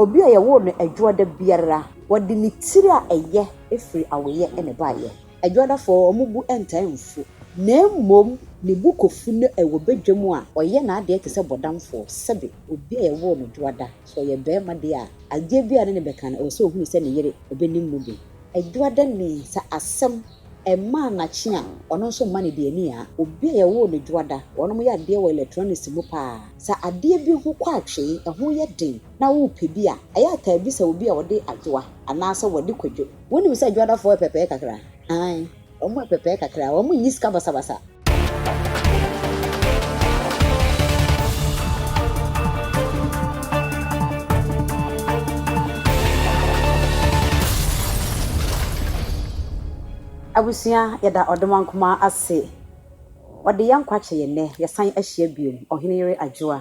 Obi a yɛwoo no Adwoada biara, wɔde ne tiri a ɛyɛ firi awoeɛ na ɛbaeɛ. Adwoadafoɔ, wɔn bo ntaa mfu, na mmom ne bo kɔfu no wɔ badwam a, ɔyɛ n'adeɛ te sɛ bɔdamfoɔ. Sɛbe, obi a yɛwoo no Dwoada, sɛ ɔyɛ barima deɛ a, adeɛ biara a ɛne no bɛka no, ɛwɔ sɛ ɔhunu sɛ ne yere bɛnim mu bi. Adwoadani, sɛ asɛm Ɛmmaa nakye a, ɔno nso mma no deɛ ani aa. Obi a yɛwoo no dwoada, wɔnom yɛ adeɛ wɔ electronics mu paa. Sɛ adeɛ bi ho kɔ atwee, ɛho yɛ den, na wopɛ bi a, ɛyɛ a taa bisa obi a ɔde adwoa anaasɛ wɔde kwadwo. Wonim sɛ dwoadafoɔ yɛ pɛpɛɛ kakra? Aane, wɔn yɛ pɛpɛɛ kakra, wɔn nni sika basabasa. Abusua yɛda ɔdomaa nkumaa ase ɔde yɛn nkwa kyɛ yɛn nnɛ yɛsan ahyia biom ɔhene yere adwoa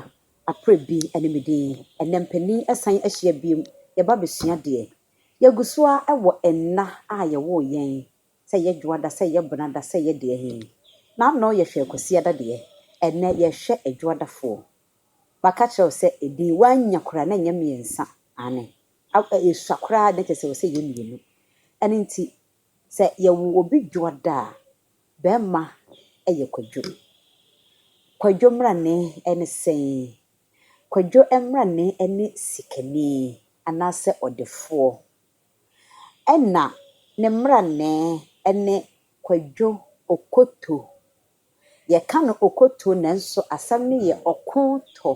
aprɛ bi ne me din ɛnɛ mpanin ɛsan ahyia biom yɛba bɛsua deɛ yɛgusoa wɔ nna a yɛwoo yɛn Sɛ yɛ dwoada sɛ yɛ benada sɛ yɛ deɛ he na anɔɔ yɛ hwɛɛ kwasiada deɛ ɛnnɛ yɛ hwɛ adwoada foɔ maka kyerɛ wo sɛ ɛdin woannya koraa na nyɛ mmiɛnsa aane ɛsua koraa na kyerɛ sɛ ɛwɔ sɛ yɛ mmienu ɛno nti sɛ yɛ wo obi dwoada a bɛɛma ɛyɛ kwadwo kwadwo mmarane ɛne sɛn kwadwo mmarane ɛne sikani anaasɛ ɔdefoɔ Ɛna ne mmrannɛɛ ne Kwadwo Okoto. Yɛka no Okoto nanso asɛm no yɛ Ɔkoto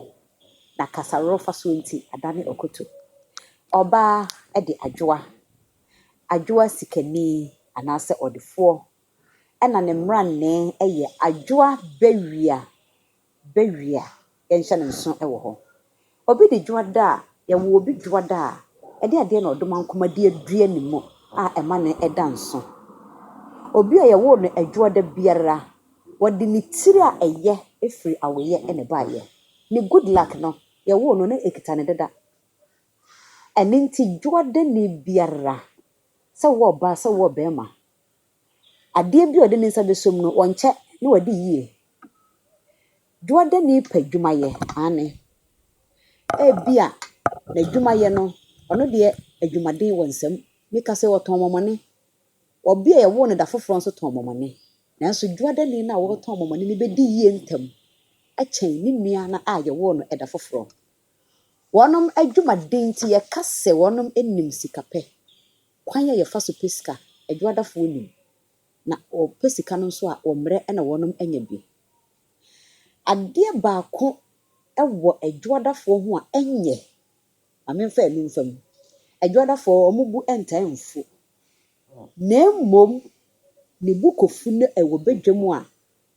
na kasarofasoɔ nti adane Okoto. Ɔbaa de Adwoa, Adwoa sikani anaasɛ ɔdefoɔ. Ɛna ne mmrannɛɛ yɛ Adwoa Bawia. bɛ wie a, yɛnhyɛ no nso wɔ hɔ. Obi de dwoada a, yɛwɔ obi dwoada a ɛde adeɛ na ɔdomankoma de adua ne mu a ɛma no da nso. Obi a yɛwoo no adwoada biara, wɔde ne tiri a ɛyɛ firi awoeɛ na ɛbaeɛ. Ne good luck no, yɛwoo no na ɛkita no dada. Ɛno nti dwoadani biara, sɛ wo ɔbaa, sɛ wo ɔbarima, Adeɛ bi a ɔde ne nsa bɛsɔ mu no, ɔnkyɛ na wadi yie. Dwoadani pɛ adwumayɛ, aane. Ebia n'adwumayɛ no, ɔno deɛ adwumaden wɔ nsam. Meka sɛ ɔtɔn mɔmɔne. Ɔbea a wɔwoo no da foforɔ nso tɔn mɔmɔne. Nanso dwoadani no a ɔretɔn mɔmɔne no bɛdi yie ntɛm akyɛn ne nua no a wɔwoo no da foforɔ. Wɔn adwumaden nti, yɛka sɛ wɔn nim sikapɛ. Kwan a yɛfa so pɛ sika, Adwuadafoɔ nim, na wɔpɛ sika no nso a, wɔmmrɛ na wɔnom anya bi. Adeɛ baako wɔ adwuadafoɔ ho a ɛnyɛ, ma memfa ɛno mfa mu, adwuadafoɔ wɔn bo ntaa mfu, na mmom ne bo kɔfu no ɛwɔ badwam a,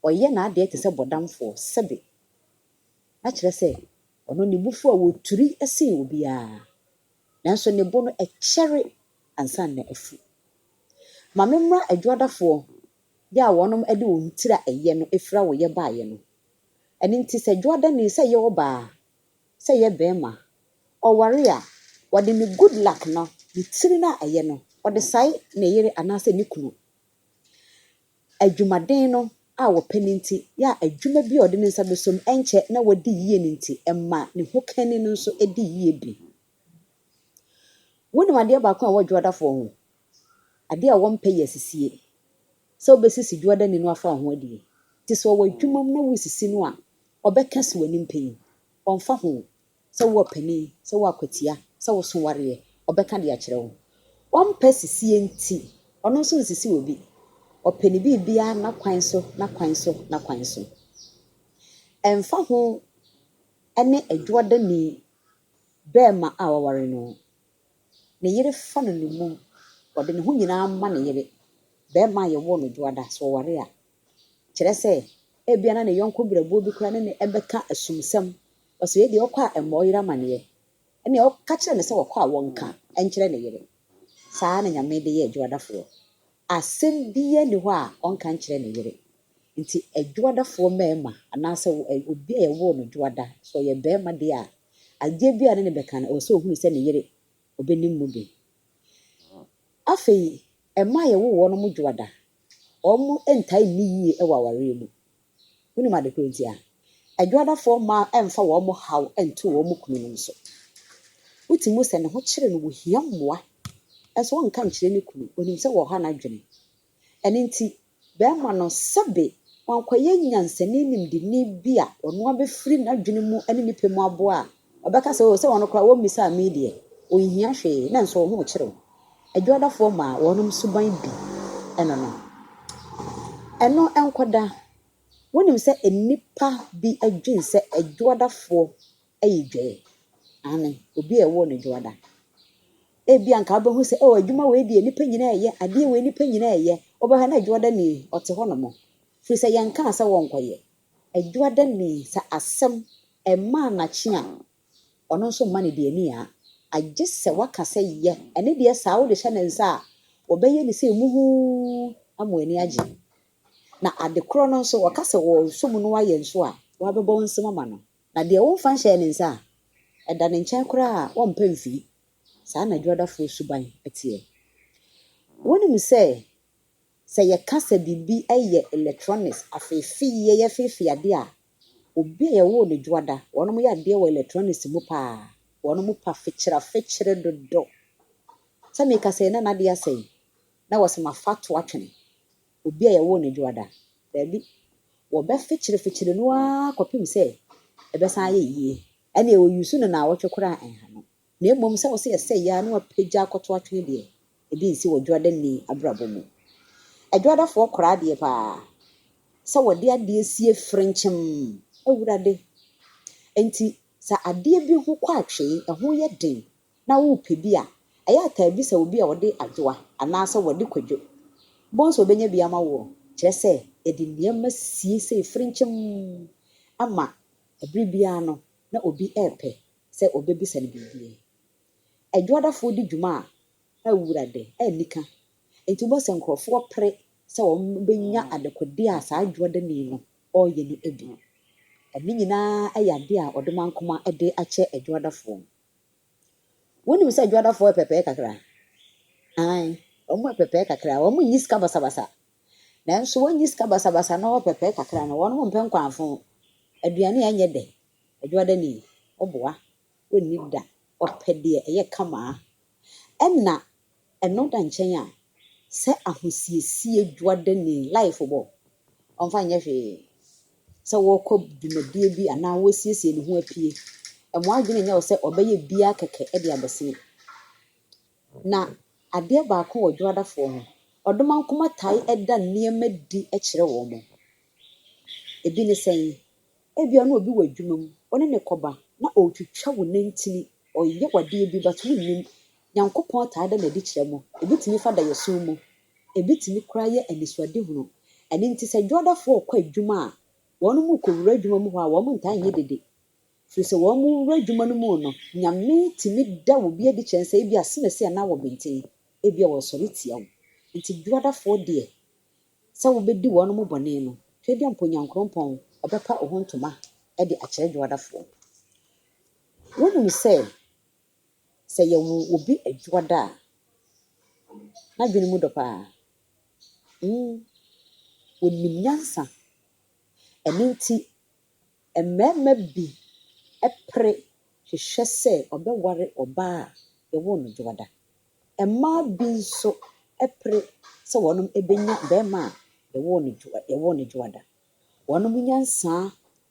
ɔyɛ n'adeɛ te sɛ bɔdamfoɔ, sɛbe, na kyerɛ sɛ, ɔno ne bo fu a, ɔturi sen obiara. nanso ne bo no ɛkyɛre ansa na afu. Ma me mmra adwuadafoɔ yɛ a wɔnom de wɔn tiri a ɛyɛ no afira wo yɛ baeɛ no. Ɛno nti sɛ dwuadani, sɛ ɛyɛ ɔbaa, sɛ ɛyɛ barima, ɔware a, wɔde ne good luck no, ne tiri no a ɛyɛ no, wɔde sae ne yere anaasɛ ne kunu. Adwumaden no a wɔpɛ no nti yɛ a adwuma bi a ɔde ne nsa bɛsɔ mu ɛnkyɛ na wadi yie no nti, ɛma ne hokanni no nso di yie bi. Wonim adeɛ baako a ɛwɔ dwoadafoɔ ho? Adeɛ a wɔmpɛ yɛ asisie, sɛ wobɛsisi dwoadani no afa wo ho adie. Nti sɛ ɔwɔ adwuma mu na woresisi no a, ɔbɛka si w'anim pɛn, ɔmfa ho Sɛ wo ɔpanin, sɛ wo akwatia, sɛ wo so wareɛ, ɔbɛka de akyerɛ wo. Ɔmpɛ sisie nti, ɔno nso nsisi obi. Ɔpɛ ne biribiara n'akwan so, n'akwan so, n'akwan so. Ɛmfa ho ne adwuadani barima a waware no, ne yere fa no nnommum, ɔde ne ho nyinaa ma ne yere, barima a yɛwoo no dwoada, sɛ ɔware a, Kyerɛ sɛ, ebia na ne yɔnko berɛboɔ bi koraa ne no rebɛka asumsɛm. Ɔsɛ wei deɛ ɔkɔ a ɛmmɔ ɔyere amaneɛ. Ɛnneɛ ɔka kyerɛ no sɛ ɔkɔ a ɔnka nkyerɛ ne yere. Saa ara na Nyame de yɛ adwoadafoɔ. Asɛm biara nni hɔ a ɔnka nkyerɛ ne yere. Nti adwoadafoɔ mmarima anaasɛ obi a yɛwoo no dwoada, sɛ ɔyɛ barima deɛ a, adeɛ biara a ɔne no bɛka no, ɛwɔ sɛ ɔhunu sɛ ne yere ɔbɛnim mu bi. Afei. Mma a yɛwo wɔn no dwoa da. Wɔntaa nni yiye wɔ awareɛ mu. Wonim ade korɔ nti a? Adwoadafoɔ mmaa mfa wɔn haw nto wɔn kununom so. Wote mu sɛ ne ho kyere no, ohia mmoa, nanso ɔnka nkyerɛ ne kunu. Onim sɛ wɔha n'adwene. Ɛno nti, bɛma no sɛbe wankɔyɛ nyansani nimdeni bi a ɔno ara bɛfiri n'adwene mu ne ne pɛ mu aboa a, ɔbɛka sɛ, O, sɛ wɔn koraa wɔmmisaa me deɛ, wɔnhia hwee, na nso wɔn ho rekyere wo. Adwadafoɔ maa wɔnom suban bi ɛno no. Ɛno nkɔda, wonim sɛ nnipa bi dwen sɛ adwadafoɔ ayi dwɛɛ. Aane, obi a ɛwoo no Dwoada. Ebia anka wobɛhu sɛ, oh, adwuma wei deɛ nnipa nyinaa reyɛ, adeɛ wei nnipa nyinaa reyɛ. Wobɛhwɛ na Dwoada ni, ɔte hɔ nom. Firi sɛ yɛnkaa sɛ wɔnkɔyɛ. Dwoada ni, sɛ asɛm mmaa n'akye a, ɔno nso mma no deɛ ni ara. Agye sɛ waka sɛ yɛ, ɛne deɛ saa wode hyɛ ne nsa a, ɔbɛyɛ ne sei muhuu ama w'ani agye. Na ade korɔ no nso, ɔka sɛ ɔresom no ayɛ nso a, wabɛbɔ nsam ama no. Na deɛ womfa nhyɛɛ ne nsa a, ɛda ne nkyɛn koraa a ɔmpa mfiri, saa na adwadafoɔ suban teɛ. Wonim sɛ, sɛ yɛka sɛ biribi yɛ electronics, afeefeeɛ, yɛfeefee adeɛ a, obi a yɛwoo no dwoada, wɔnom yɛ adeɛ wɔ electronics mu pa ara, wɔnom pa fekyerafekyere dodo. Sɛ meka sɛ Nana adeɛ asɛe, na wɔse mafa toa twene, obi a yɛwoo no dwoada. Daabi, wɔbɛfekyerefekyere no ara kɔpem sɛ ɛbɛsan ayɛ yie. Ɛnneɛ wɔ use no naawɔtwe koraa a ɛnha no. Na mmom sɛ wo sɛ yɛsɛe yi ara na wapagya akɔto atwene deɛ, ebi nsi wɔ dwoadanni abrabɔ mu. Adwoadafoɔ kora adeɛ pa ara sɛ wɔde adeɛ sie frenkyem, Awurade. Enti sɛ adeɛ bi ho kɔ atwee, ɛho yɛ den na worepɛ bi a, ɛyɛ a taa bisa obi a ɔde adwoa anaasɛ wɔde kwadwo. Wobɛhu sɛ ɔbɛnya bi ama woɔ. Kyerɛ sɛ, yɛde nneɛma sie sei frenkyem ama bere biara no na obi repɛ sɛ ɔbɛbisa no biribi. Adwoadafoɔ di dwuma a wura de nni ka, enti wobɛhu sɛ nkurɔfoɔ pere sɛ wɔbɛnya adekodeɛ a saa adwoadani no reyɛ no bi. Ne nyinaa yɛ adeɛ a ɔdomankoma de akyɛ adwoadafoɔ no. Wonim sɛ Dwoadafoɔ yɛ pɛpɛɛ kakra. Aane, wɔn yɛ pɛpɛɛ kakra. Wɔn nyi sika basabasa. Nanso wɔn nyi sika basabasa na wɔyɛ pɛpɛɛ kakra no, wɔn mpɛ nkwanfo. Aduane a ɛnyɛ dɛ, Dwoada ni, ɔboa, ɔnni da, ɔpɛ deɛ ɛyɛ kamaa. Ɛna Ɛno da nkyɛn a, sɛ ahosiesie dwuadani, life bɔ, ɔmfa nyɛ hwee. Sɛ wɔrekɔ dwumadie bi anaa wɔresiesie ne ho apue, ɛmma adwene nyɛ wo sɛ ɔbɛyɛ biara kɛkɛ de abɛsene. Na adeɛ baako wɔ dwuadafoɔ ho, ɔdomankoma tae da nneɛma di kyerɛ wɔn. Ebi ne sɛn? Ebia na obi wɔ adwuma mu, wo ne no rekɔba, na ɔretwitwa wo nantin, ɔreyɛ wo adeɛ bi, but wonnim. Nyankopɔn taa da no adi kyerɛ mo. Ɛbɛtumi fa daeɛso mu. Ɛbɛtumi koraa yɛ anisoadehunu. Ɛno nti sɛ dwoadafoɔ rekɔ adwuma a, wɔn rekɔwura adwuma mu hɔ a, wɔn ntaa nyɛ dede. Firi sɛ wɔn rewura adwuma no mu no, Nyame tumi da obi adi kyerɛ no sɛ ebia asemasi anaa wɔbenten, ebia ɔresɔre tia wo. Nti dwoadafoɔ deɛ, sɛ wobɛdi wɔn mo bɔne no, hwɛ bia mpo Nyankorompɔn ɔbɛpa oho ntoma de akyerɛ Dwoadafoɔ. Wonim sɛ, sɛ yɛwo obi Dwoada a, n'adwene mu dɔ paa. Mm, onim nyansa. Ɛno nti, mmarima bi pere hwehwɛ sɛ ɔbɛware ɔbaa a yɛwoo no Dwoada. Mmaa bi nso pere sɛ wɔbɛnya barima a yɛwoo no dwoa yɛwoo no dwoada. Wɔn nyansa,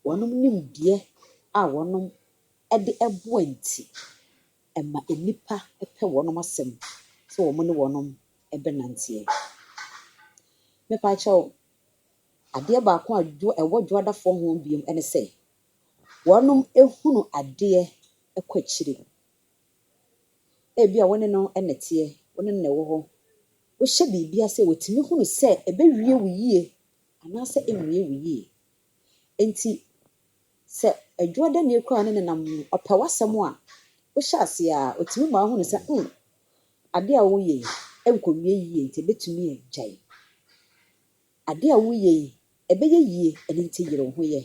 wɔn nimdeɛ a wɔde boa nti, ɛma nnipa pɛ wɔn asɛm sɛ wɔne wɔn bɛnanteɛ. Me pa kyɛw, adeɛ baako a dwoa ɛwɔ dwoadafoɔ ho bio ne sɛ, wɔhunu adeɛ kɔ akyire. Ebia wo ne no na ɛteɛ, wo ne no na ɛwɔ hɔ. Wohyɛ biribi ase a, watumi hunu sɛ ɛbɛwie wo yie anaasɛ ɛnwie wo yie. Enti sɛ adwuadani koraa ne no nam, ɔpɛ w'asɛm a, wohyɛ ase a, ɔtumi ma wohunu sɛ hmm, adeɛ a woyɛ yi nkɔwie yie nti ɛbɛtumi agyae. Ade a woyɛ yi, ɛbɛyɛ yie, ɛno nti yere wo ho yɛ.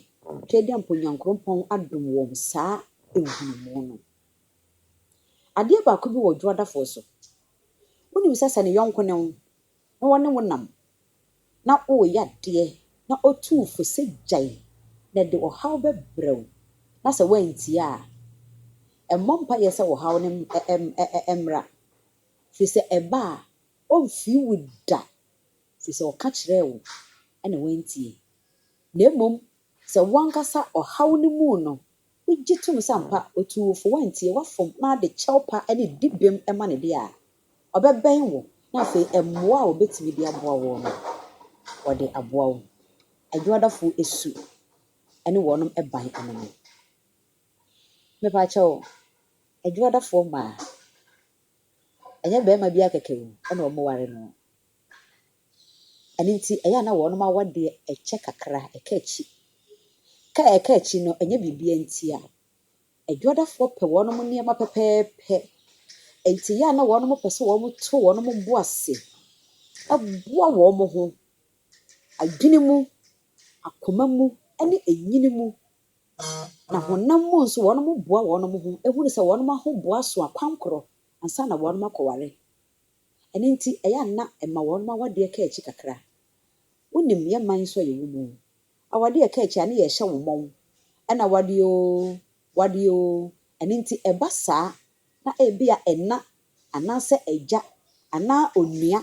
Twɛdeampo Nyankoropɔn adom wɔn saa nhunumu no. Adeɛ baako bi wɔ Dwoadafoɔ so. Wonim sɛ sɛ ne yɔnko ne wo na wɔne wo nam na woreyɛ adeɛ na ɔtu wo fo sɛ gyae na ɛde ɔhaw bɛbrɛ wo na sɛ woantie a, mmɔ mpaeɛ sɛ ɔhaw no mmra firi sɛ ɛba a ɔmfiri wo da Ɛfiri sɛ ɔka kyerɛɛ wo na woantie, na mmom sɛ wo ankasa ɔhaw no mu no wogye tom sɛ ampa ɔtuu wo fo, woantie, woafom na wode kyɛwpa ne dibem ma no deɛ a, ɔbɛbɛn wo na afei mmoa a ɔbɛtumi de aboa woɔ no, ɔde aboa wo. Adwuadafoɔ su ne wɔnom ban ano no. Mepakyɛw, adwuadafoɔ mmaa, ɛnyɛ barima biara kɛkɛ o na wɔware no. Ɛno nti, ɛyɛ a na wɔnom awadeɛ ɛkyɛ kakra, ɛka akyi. Ka a ɛka akyi no, ɛnyɛ biribiara nti a. Adwadafoɔ pɛ wɔnom nneɛma pɛpɛɛpɛ. Ɛnti ɛyɛ a na wɔnom pɛ sɛ wɔnom to wɔnom bo ase, boa wɔnom ho, adwene mu, akoma mu, ɛne ɛnyini mu. Na honam mu nso wɔnom boa wɔnom ho, ɛhunu sɛ wɔnom ahoboa so akwankorɔ ansa na wɔnom akɔware. Ɛno nti, ɛyɛ a na ɛma wɔnom awadeɛ ka akyi kakra. Wonim, yɛ mman nso a yɛwɔ mu, awadeɛ ɛka akyi a ne yɛrehyɛ wo mmɔn, ɛna wadeɛ oo, wadeɛ oo. Ɛno nti, ɛba saa na ebia ɛna anaasɛ agya anaa onua,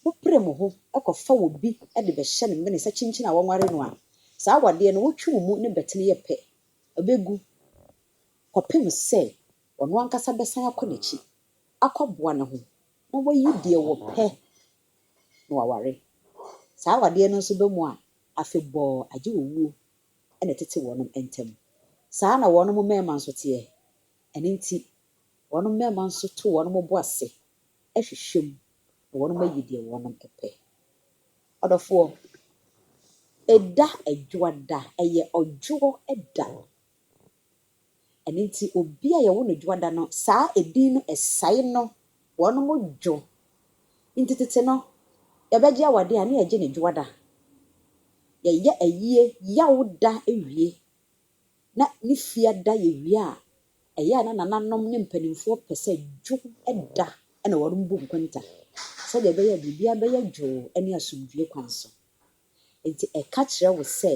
mopere mo ho kɔfa obi de bɛhyɛ no mene sɛ kyenkyen a wɔnware no a, saa awadeɛ no wotwe wo mu ne bɛtene yɛ pɛ, ɛbɛgu kɔpem sɛ ɔno ankasa bɛsan akɔ n'akyi akɔboa ne ho na wayi deɛ ɔpɛ na waware. Saa awadeɛ no nso ba mu a, afebɔɔ agye owuo na ɛtete wɔnom ntam. Saa ara na wɔnom mmarima nso teɛ. Ɛno nti, wɔnom mmarima nso to wɔnom bo ase hwehwɛ mu na wɔnom ayi deɛ wɔnom pɛ. Ɔdɔfoɔ, ɛda Adwoada, ɛyɛ Ɔdwoɔ da. Ɛno nti obi a yɛwo no dwoada no saa edin no ɛsae no wɔnom dwo nti tete no yɛbɛgye awadeɛ a ne yɛgye no dwoada. Yɛyɛ ayie Yawda wie na ne fiada yɛwie a ɛyɛ a na nananom ne mpanimfoɔ pɛ sɛ dwoda na wɔnom bu nkonta sɛdeɛ ɛbɛyɛ a biribiara bɛyɛ dwoo ne asomdwoeɛ kwan so. Enti ɛka kyerɛ wo sɛ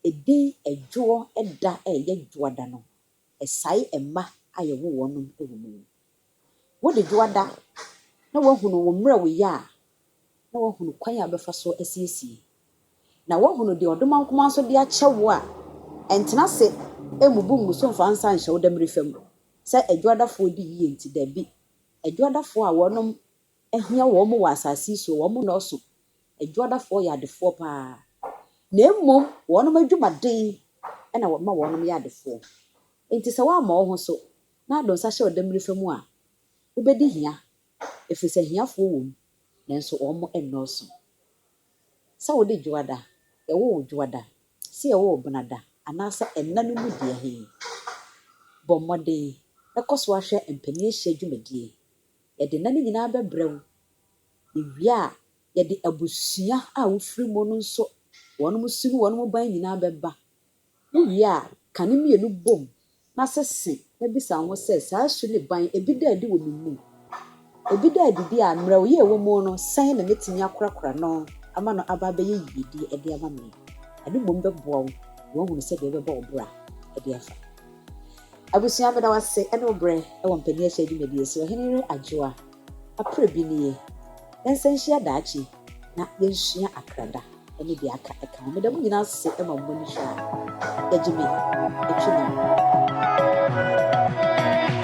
edin ɛdwoɔ da a ɛyɛ dwoada no, ɛsae mma a yɛwo wɔn wɔ mu. Wode dwoada na woahunu wo mmerɛ woyɛ a, na woahunu kwan a wobɛfa so asiesie. Na woahunu deɛ ɔdomaa nkumaa nso de akyɛ wo a, ɛntena ase mmubu ngu so mfa nsa nhyɛ wo dammire fam sɛ adwoadafoɔ di yie nti, dabi, adwoadafoɔ a wɔnom ahia wɔn wɔ asase yi so, wɔn nnɔɔso, adwuadafoɔ yɛ adefoɔ paa, na mmom wɔnom adwumaden na wɔma wɔnom yɛ adefoɔ. Enti sɛ woammɔ wo ho so na ado nsa hyɛ ɔdammirifa mu a, wobɛdi hia, ɛfiri sɛ ahiafoɔ wɔ mu, nanso wɔn nnɔɔso. Sɛ wode dwoada, yɛwɔ wo dwoada, sɛ yɛwɔ wo benada, anaasɛ nna no mu deɛ he, bɔ mmɔden kɔ so ara hwɛ mpanin ahyia dwumadie. Yɛde nna no nyinaa bɛbrɛ wo. Yɛwie a, yɛde abusua a wofiri mu no nso, wɔn su ne wɔn ban nyinaa bɛba. Wowie a, ka ne mmienu bom na sese na bisa wo ho sɛ, 'Saa su ne ban yi, ebi da adi wɔ me mu? Ebi da adi de a, mmerɛ a ɔyɛ ɛwɔ mu no, sɛn na mɛtumi akorakora no ama no aba abɛyɛ yiedie de ama me? Ɛno mmom bɛboa wo ma woahunu sɛdeɛ wobɛbɔ wo bra de afa. Abusua meda wo ase ɛne wo berɛ wɔ mpanin ahyɛ adwumadie so ɔhene yere Adwoa aprɛ bi nie yɛnsan nhyia daakye na yɛnsua akrada ɛne deɛ aka ɛka ho meda mo nyinaa ase ɛma mo ani hwɛ a yɛgye me ɛtwi nam.